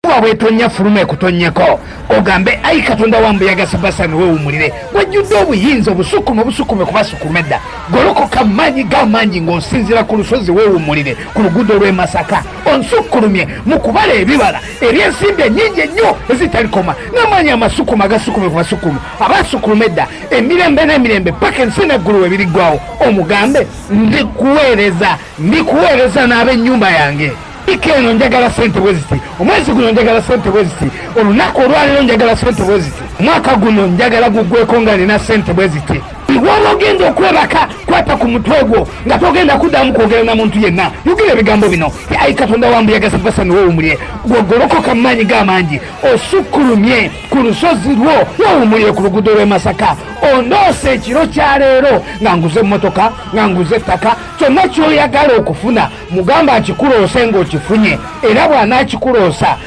kuba bwetonya fuluma ekutonyeko ogambe ayi katonda wa mbuyaga sebasani wewumulire wajjudde obuyinza obusukuma obusukuma okubasukuma edda golokoka maanyi gamaanyi ng'osinzira ku lusozi wewumulire ku luguudo lw'e masaka onsukkulumye mu kubala ebibala eby'ensimbi ennyingi ennyo ezitalikoma n'amaanyi amasukuma agasukume ku basukuma abasukkuluma edda emirembe n'emirembe paka ensi n'eggulu webiriggwawo omugambe ndikuweereza ndikuweereza n'ab'ennyumba yange Wiki eno njagala sente bweziti, omwezi guno njagala sente bweziti, olunaku olwaliro njagala sente bweziti, omwaka guno njagala gugweko nga nina sente bweziti. Waba ogenda okwebaka kwata ku mutwe gwo nga togenda kuddamu kwogera na muntu yenna. Yogera ebigambo bino, ayi Katonda wa mbuyaga Safasani wewumulye, gwogolokoka mu maanyi ga mangi, osukkulumye ku lusozi lwo, wewumulye ku luguudo lw'e Masaka, ondoose ekiro kya leero nga nguze emmotoka, nga nguze ettaka, kyonna ky'oyagala okufuna. mugamba akikuloose ng'okifunye era bw'anaakikuloosa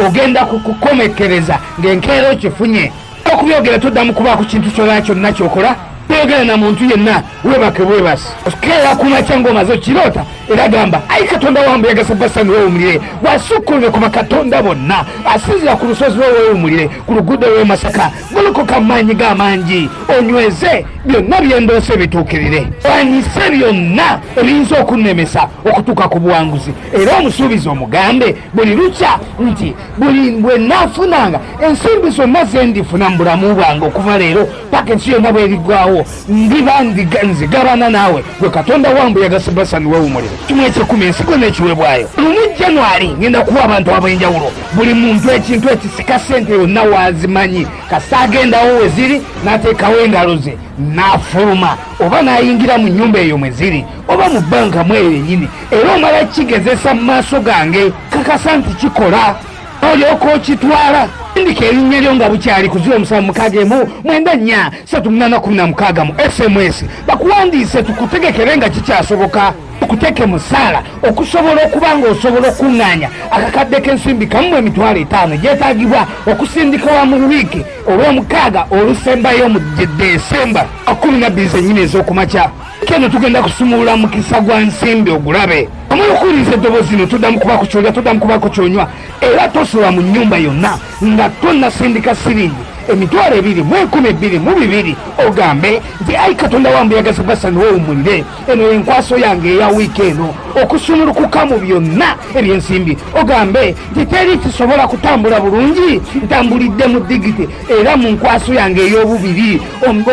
ogenda kukukomekereza ng'enkeera okifunye okubyogera toddamu kuba ku kintu kyona kyonna kyokola toyogera na muntu yenna webake bwebasi keera kumakya ngaomaze okiroota era gamba ayi katonda wange yagasa basani wewumulire wasukkulire kuba katonda bonna asinzira ku lusozi lwe wewumulire ku luguudo lw'emasaka golokoka mu maanyi ga mangi onyweze byonna by'endoose bituukirire wanyise byonna ebiyinza okunnemesa okutuuka ku buwanguzi era omusuubizi omugambe buli lukya nti buli bwe naafunanga ensimbi zonna ze ndifuna mu bulamu bwange okuva leero paka ensi yonna bweriggwawo ndiba ndiga nze gabana naawe gwe katonda wambu yagase basani wewumuliro kimu ekyekumi ensigo n'ekiweebwayo lumu januari ngenda kuwa abantu ab'enjawulo buli muntu ekintu ekisika sente yonna waazimanyi kasa agendawo we ziri n'ateekawo engalo ze n'afuluma oba n'ayingira mu nnyumba eyo mwe ziri oba mu bbanka mweyo yennyini era omala kigezesa mu maaso gange kakasa nti kikola olyoka okitwala ndika erinnya lyo nga bukyali ku ziro musanvu mukaaga emu mwenda nnya satu munaana kumi na mukaaga mu sms bakuwandiise tukutegekere nga kikyasoboka okuteke mu ssaala okusobola okuba ng'osobola okukuŋŋaanya akakadde k'ensimbi kamu mu emitwalo etaano gyetaagibwa okusindika wa mu wiiki olw'omukaaga olusembayo mu desemba kkumi na bbiri zennyini ez'okumakya keno tugenda kusumulula mukisa gwa nsimbi ogulabe omala okuwuliriza eddobozi zino tuddamu kuba ku kyolya tuddamu kuba ku kyonywa era tosula mu nnyumba yonna nga tonasindika siringi emitwalo ebiri mu enkumi ebbiri mu bibiri ogambe nti ayi katonda wange yagaza basani wowumulire eno enkwaso yange eya wiiki eno okusumulukuka mu byonna ebyensimbi ogambe nti teri kisobola kutambula bulungi ntambulidde mu digiti era mu nkwaso yange ey'obubiri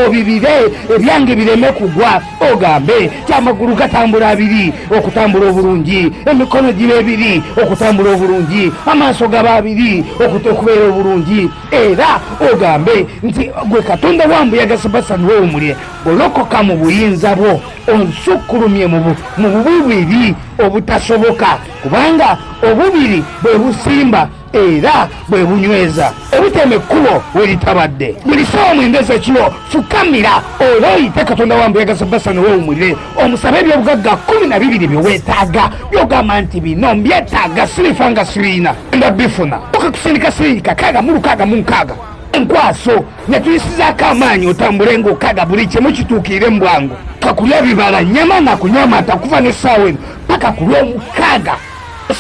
obibire ebyange bireme kugwa ogambe ti amagulu gatambula abiri okutambula obulungi emikono giba ebiri okutambula obulungi amaaso gaba abiri okubeera obulungi era ogambe nti gwe katonda wa mbuyaga sebasani wewumulye olokoka mu buyinza bwo onsukkulumye mu bububiri obutasoboka kubanga obubiri bwe busimba era bwe bunyweza ebitema ekkubo we litabadde buli sawa omwenge zekiro fukamira oba oyite katonda wa mbuyaga za basani wewumulire omusabe ebyobugagga kkumi na bibiri bye weetaaga byogamba nti bino mbyetaaga sirifa nga sirina nga bifuna oka kusindika siringi kakaaga mu lukaaga mu nkaaga enkwaso ne tuyisizaako amaanyi otambule ng'okaaga buli kimu kituukiire mu bwangu kakulya bibala nyama na kunywa mata kuva n'essaawa eno paka ku lw'omukaaga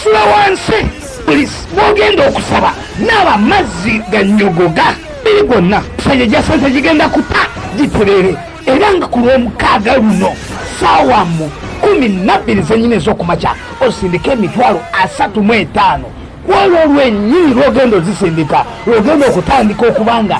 sula wansi buli bwogenda okusaba naaba mazzi ganyogoga biri gwonna sanya gyasanze gigenda kuta giterere era nga ku lw'omukaaga luno saawa mu kumi nabbiri zenyini ez'okumakya osindika emitwalo asatu mu etaano kwolwo olwenyini lwogenda ozisindika lwogenda okutandika okubanga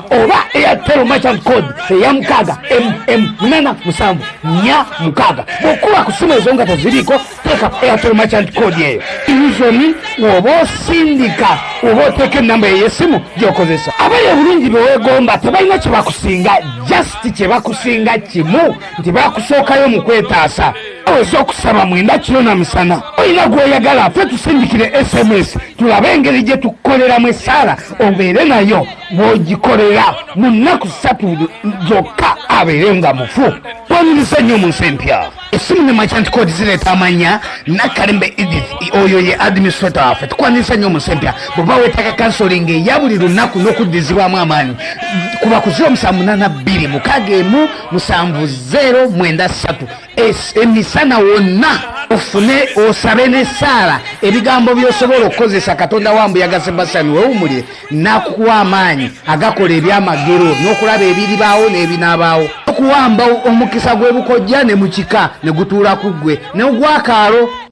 oba airtel merchant code eya mukaaga mm munana musanvu nya mukaaga bwokuba ku simu ezo nga teziriiko teeka airtel merchant code eyo izoni woba osindika oba oteeka enamba eyesimu gyokozesa abayo obulungi bewegomba tebalina kyebakusinga just kyebakusinga kimu nti bakusookayo mu kwetaasa aweza okusaba mwenda kiro na misana olina gwoyagala fe tusindikire sms tulabe engeri gye tukukoleramu essaala obeere nayo bw'ogikolera mu nnaku ssatu zokka abeere nga mufu twanyumiza nnyo mu nsi empya essimu ne merchant code zireeta amanya nakalembe edith oyo ye administrator waffe tukwanyumiza nnyo mu nsi empya bw'oba weetaaga kansolinga eya buli lunaku n'okuddizibwamu amaanyi kuba ku 0782 6 1 7 9 3 emisana wonna ofune osabe n'essaala ebigambo by'osobola okukozesa katonda wa mbuyaga sebasani wewumulire n'akukuwa amaanyi agakola ebyamagero n'okulaba ebiribaawo n'ebinaabaawo okuwamba omukisa gw'ebukojja ne mu kika ne gutuula ku ggwe n'ogwakaalo